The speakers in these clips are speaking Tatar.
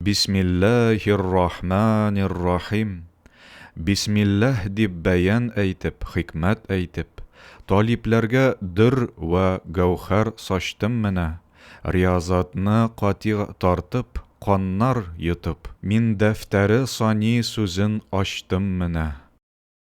Бисмиллаһир-рахманир-рахим Бисмиллаһ дип бәян әйтеп, хикмәт әйтеп, талипләргә дөрр вә гәүһәр сачтым менә, риязатны катигъ тартып, каннар йотып, мин дәфтәре сани сүзен ачтым менә.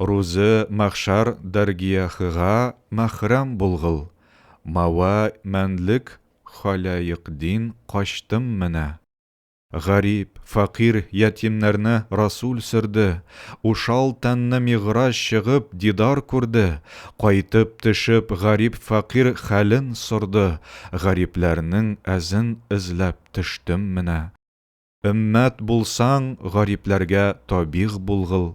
Рузы махшар дәргиәхыга мәхрәм булгыл, Мауа мәнлек халәек дин качтым менә. Гарип, фәкыйрь ятимнәрне Расул сөрде, Ушал тәнне мигъраҗ чыгып дидар күрде, Кайтып төшеп гарип-фәкыйрь хәлен сорды, Гарипләрнең әзен эзләп төштем менә. Өммәт булсаң, гарипләргә табигъ булгыл,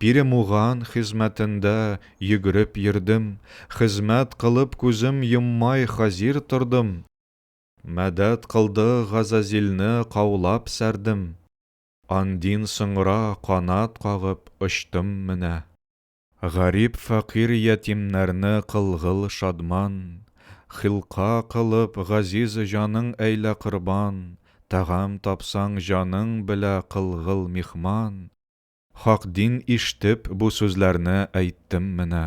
Перемуган хезмәтендә йөгереп йөрдем, Хезмәт кылып күзем йоммай хазир тордым, Мәдәт кылды Газазилне каулап сәрдем, Андин соңра канат кагып очтым менә. Гарип-фәкыйрь ятимнәрне кылгыл шадман, Хилка кылып газиз җаның әйлә корбан, Тәгам тапсаң җаның белә кылгыл михман, Хак дин иштеп, бу сүзләрне әйттем менә.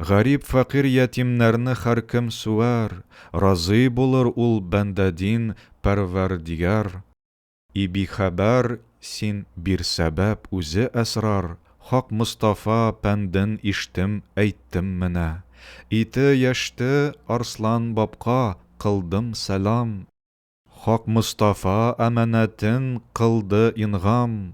Гарип, фәкыйрь ятимнәрне хәркем суәр, Разый булыр ул бәндә дин Пәрвәрдигар. И бихәбәр син, бир сәбәп, үзе әсрар, Хак Мостафа пәнден иштем, әйттем менә. Ите яшьте, Арслан бабка, кылдым сәлам. Хак Мостафа әманәтен кылды ингам.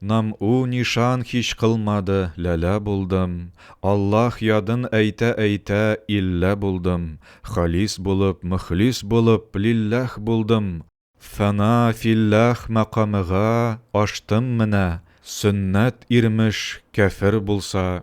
Нам у нишан һич кылмады, ләлә булдым, Аллаһ ядын әйтә-әйтә, иллә булдым, Халис булып, мөхлис булып, лилләһ булдым, Фана филләһ мәкамыга аштым менә, Сөннәт ирмеш, кяфер булса,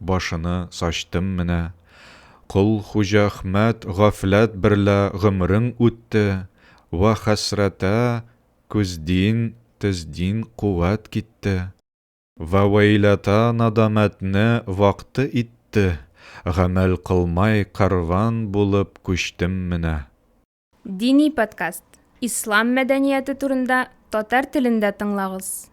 Башыны сачтым менә. Кол Хуҗахмәт гафләт берлә гомерең үтте, вә хәсрәтә көздин, төздин куәт китте. Вә вәйләтә надамәтне вакты итте, гамәл кылмай кәрван булып күчтем менә. Дини подкаст. Ислам мәдәнияте турында татар телендә тыңлагыз.